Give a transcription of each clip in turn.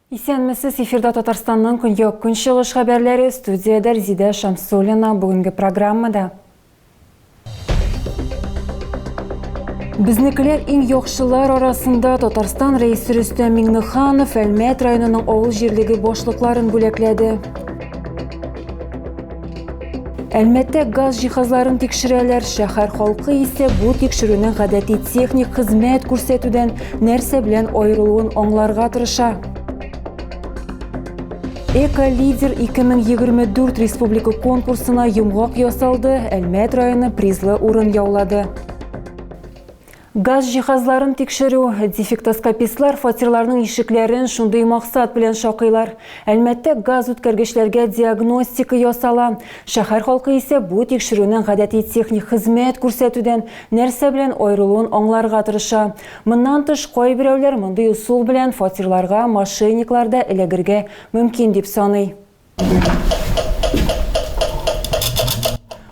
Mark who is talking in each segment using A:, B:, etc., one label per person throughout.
A: Исәнмесез, эфирда Татарстанның көньяк-көнчыгыш хәбәрләре, студиядә Резидә Шамсуллина. Бүгенге программада Безнекеләр иң яхшылар арасында Татарстан рәисе Рөстәм Миңнеханов Әлмәт районының авыл җирлеге башлыкларын бүләкләде. Әлмәттә газ җиһазларын тикшерәләр, шәһәр халкы исә бу тикшерүнең гадәти техник хезмәт күрсәтүдән нәрсә белән аерылуын аңларга тырыша. Эко-лидер 2024 республика конкурсына йомгак ясалды, Әлмәт районы призлы урын яулады. Газ җиһазларын тикшерү, дефектоскопистлар фатирларның ишекләрен шундый максат белән шакыйлар. Әлмәттә газ үткәргечләргә диагностика ясала. Шәһәр халкы исә бу тикшерүнең гадәти техник хезмәт күрсәтүдән нәрсә белән аерылуын аңларга тырыша. Моннан тыш, кайберәүләр мондый ысул белән фатирларга мошенниклар да эләгергә мөмкин дип саный.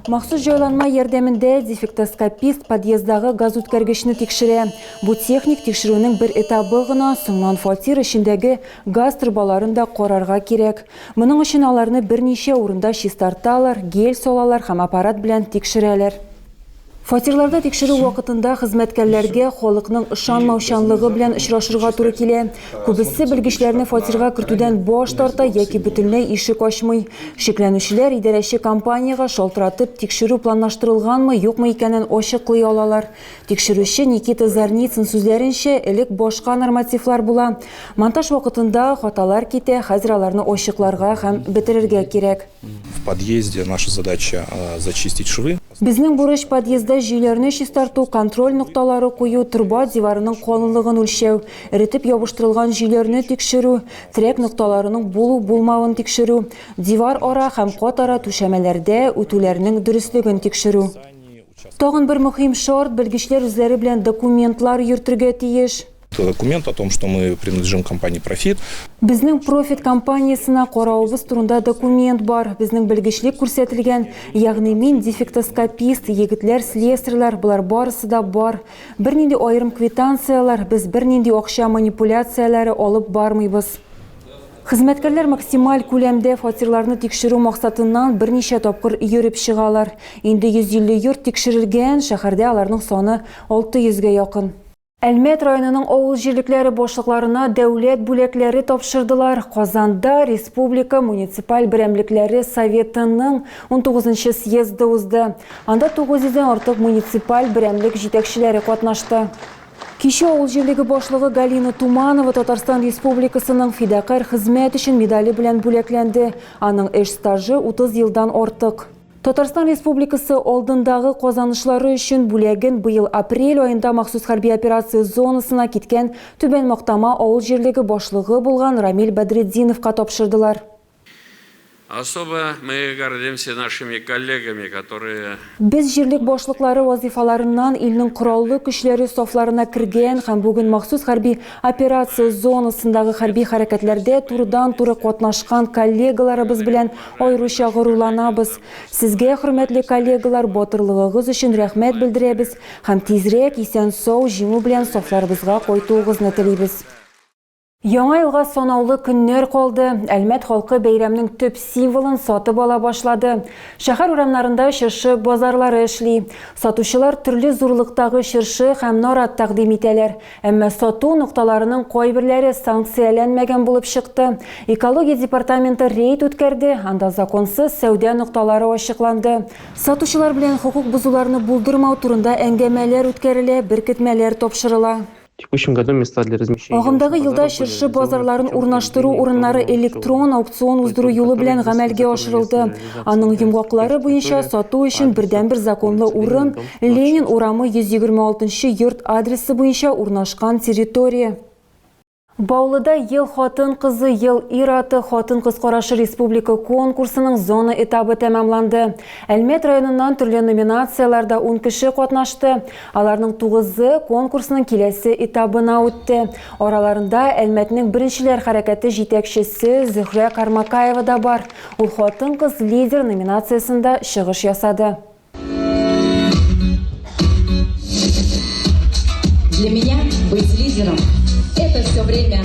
A: Махсус җайланма ярдәмендә дефектоскопист подъездагы газүткәргечне тикшерә. Бу техник тикшерүнең бер этабы гына, соңнан фатир эчендәге газ торбаларын да карарга кирәк. Моның өчен аларны берничә урында чистарталар, гель салалар һәм аппарат белән тикшерәләр. Фатирларда тикшерү вакытында хезмәткәрләргә халыкның ышанмаучанлыгы белән очрашырга туры килә. Күбесе белгечләрне фатирга кертүдән баш тарта яки бөтенләй ишек ачмый. Шикләнүчеләр идарәче компаниягә шалтыратып, тикшерү планлаштырылганмы, юкмы икәнен ачыклый алалар. Тикшерүче Никита Зарницын сүзләренчә, элек башка нормативлар була. Монтаж вакытында хаталар китә, хәзер аларны ачыкларга һәм бетерергә кирәк. В подъезде
B: наша задача зачистить швы. Безнең бурыч подъездда
A: җөйләрне чистарту, контроль нокталары кую, торба диварының калынлыгын үлчәү, эретеп ябыштырылган җөйләрне тикшерү, терәк нокталарының булу-булмавын тикшерү, дивар ара һәм кат ара түшәмәләрдә үтүләрнең дөреслеген тикшерү. Тагын бер мөһим шарт, белгечләр үзләре белән документлар йөртергә тиеш. Документ о том,
B: что мы принадлежим компании Profit. Безнең Profit
A: компаниясенә каравыбыз турында документ бар. Безнең белгечлек күрсәтелгән. Ягъни мин дефектоскопист, егетләр слесарьлар, болар барысы да бар. Бернинди аерым квитанцияләр, без бернинди акча манипуляцияләре алып бармыйбыз. Хезмәткәрләр максималь күләмдә фатирларны тикшерү максатыннан берничә тапкыр йөреп чыгалар. Инде 150 йорт тикшерелгән, шәһәрдә аларның саны 600 гә якын. Әлмәт районының авыл җирлекләре башлыкларына дәүләт бүләкләре тапшырдылар. Казанда республика муниципаль берәмлекләре Советының 19 нчы съезды узды. Анда 900 дән артык муниципаль берәмлек җитәкчеләре катнашты. Кичә авыл җирлеге башлыгы Галина Туманова Татарстан Республикасының фидакарь хезмәт өчен медале белән бүләкләнде. Аның эш стажы 30 елдан артык. Татарстан Республикасы алдындагы казанышлары өчен бүләген быел апрель аенда махсус хәрби операция зонасына киткән Түбән Мактама авыл җирлеге башлыгы булган Рамил Бәдретдиновка тапшырдылар.
C: Особо мы гордимся нашими коллегами, которые. Без җирлек
A: башлыклары вазыйфаларыннан илнең кораллы көчләре сафларына кергән һәм бүген махсус хәрби операция зонасындагы хәрби хәрәкәтләрдә турыдан-туры катнашкан коллегаларыбыз белән Аеруча горурланабыз. Сезгә, хөрмәтле коллегалар, батырлыгыгыз өчен рәхмәт белдерәбез һәм тизрәк исән-сау, җиңү белән сафларыбызга кайтуыгызны телибез. Яңа елга санаулы көннәр калды. Әлмәт халкы бәйрәмнең төп символын сатып ала башлады. Шәһәр урамнарында чыршы базарлары эшли. Сатучылар төрле зурлыктагы чыршы һәм нарат тәкъдим итәләр. Әмма сату нокталарының кайберләре санкцияләнмәгән булып чыкты. Экология департаменты рейд үткәрде, анда законсыз сәүдә нокталары ачыкланды. Сатучылар белән хокук бозуларны булдырмау турында әңгәмәләр үткәрелә, беркетмәләр тапшырыла. Агымдагы елда чыршы базарларын урнаштыру урыннары электрон аукцион уздыру юлы белән гамәлгә ашырылды. Аның йомгаклары буенча сату өчен бердәнбер законлы урын, Ленин урамы 126 нчы йорт адресы буенча урнашкан территория. Баулыда Ел хатын-кызы, Ел ир-аты, хатын-кыз карашы республика конкурсының зона этабы тәмамланды. Әлмәт районыннан төрле номинацияләрдә ун кеше катнашты. Аларның тугызы конкурсның киләсе этабына үтте. Араларында Әлмәтнең беренчеләр хәрәкәте җитәкчесе Зөһрә Кармакаева да бар. Ул хатын-кыз лидер номинациясендә чыгыш ясады.
D: Для меня быть лидером – это все время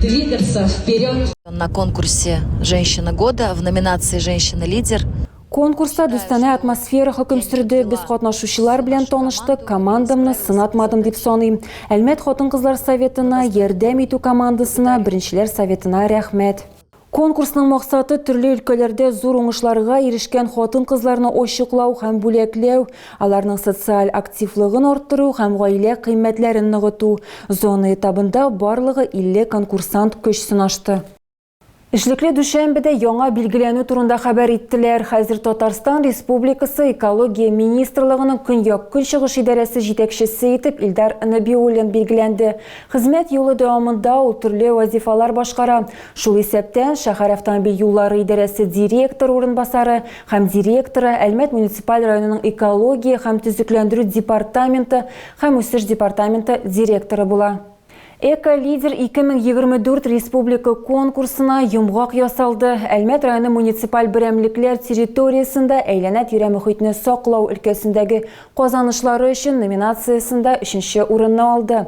D: двигаться вперед. На конкурсе «Женщина года» в номинации «Женщина-лидер» Конкурста
A: дүстанә атмосфера хөкем сүрде. Без катнашучылар белән таныштык, командамны сынатмадым дип саныйм. Әлмәт хатын-кызлар советына, ярдәм итү командасына, беренчеләр советына рәхмәт. Конкурсның максаты, төрле өлкәләрдә зур уңышларга ирешкән хатын-кызларны ачыклау һәм бүләкләү, аларның социаль активлыгын арттыру һәм гаилә кыйммәтләрен ныгыту. Зона этабында барлыгы 50 конкурсант көч сынашты. Эшлекле дүшәмбедә яңа билгеләнү турында хәбәр иттеләр. Хәзер Татарстан Республикасы Экология министрлыгының Көньяк-Көнчыгыш идарәсе җитәкчесе итеп Илдар Нәбиуллин билгеләнде. Хезмәт юлы дәвамында ул төрле вазифалар башкара, Шул исәптән, шәһәр автомобиль юллары идарәсе директор урынбасары һәм директоры, Әлмәт муниципаль районының экология һәм төзекләндерү департаменты һәм үсеш департаменты директоры була. Эко-лидер 2024 республика конкурсына йомгак ясалды, Әлмәт районы муниципаль берәмлекләр территориясендә әйләнә-тирә мөхитне саклау өлкәсендәге Казанышлары өчен номинациясендә өченче урынны алды.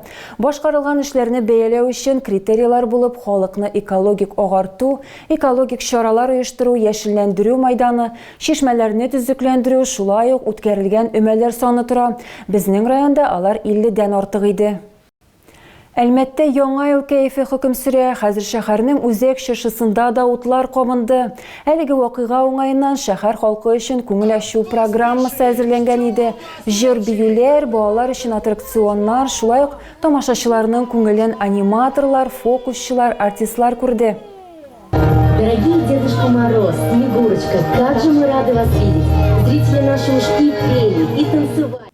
A: Башкарылган эшләрне бәяләү өчен критерийлар булып халыкны экологик агарту, экологик чаралар оештыру, яшелләндерү майданы, чишмәләрне төзекләндерү, шулай ук үткәрелгән өмәләр саны тора, безнең районда алар 50 дән артык иде. Әлмәттә яңа ел кәефе хөкем сөрә. Хәзер шәһәрнең Үзәк чыршысында да утлар кабынды. Әлеге вакыйга уңаеннан шәһәр халкы өчен күңел ачу программасы әзерләнгән иде. Җыр-биюләр, балалар өчен аттракционнар, шулай ук тамашачыларның күңелен аниматорлар, фокусчылар, артистлар күрде.
E: Дорогие Дедушка Мороз, Снегурочка, как же мы рады вас видеть! Зрители наши уж и пели, и танцевали.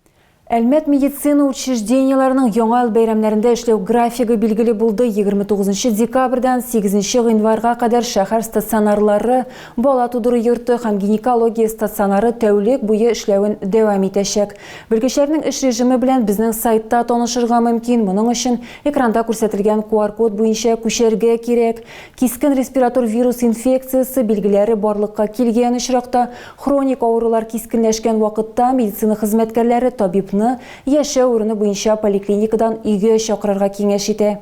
E: Әлмәт
A: медицина учреждениеләренең Яңа ел бәйрәмнәрендә эшләү графигы билгеле булды. 29 декабрьдән 8 гыйнварга кадәр шәһәр стационарлары, бала тудыру йорты һәм гинекология стационары тәүлек буе эшләвен дәвам итәчәк. Белгечләрнең эш режимы белән безнең сайтта танышырга мөмкин, моның өчен экранда күрсәтелгән QR-код буенча күчәргә кирәк. Кискен респиратор вирус инфекциясе билгеләре барлыкка килгән очракта, хроник авырулар кискенләшкән вакытта медицина хезмәткәрләре табибны яшәү урыны буенча поликлиникадан өйгә чакырырга киңәш итә.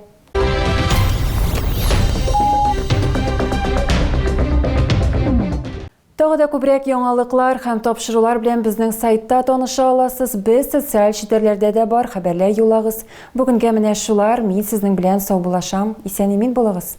A: Тагы да күбрәк яңалыклар һәм тапшырулар белән безнең сайтта таныша аласыз. Без социаль челтәрләрдә дә бар, хәбәрләр юллагыз. Бүгенгә менә шулар, мин сезнең белән саубуллашам. Исән-имин булыгыз!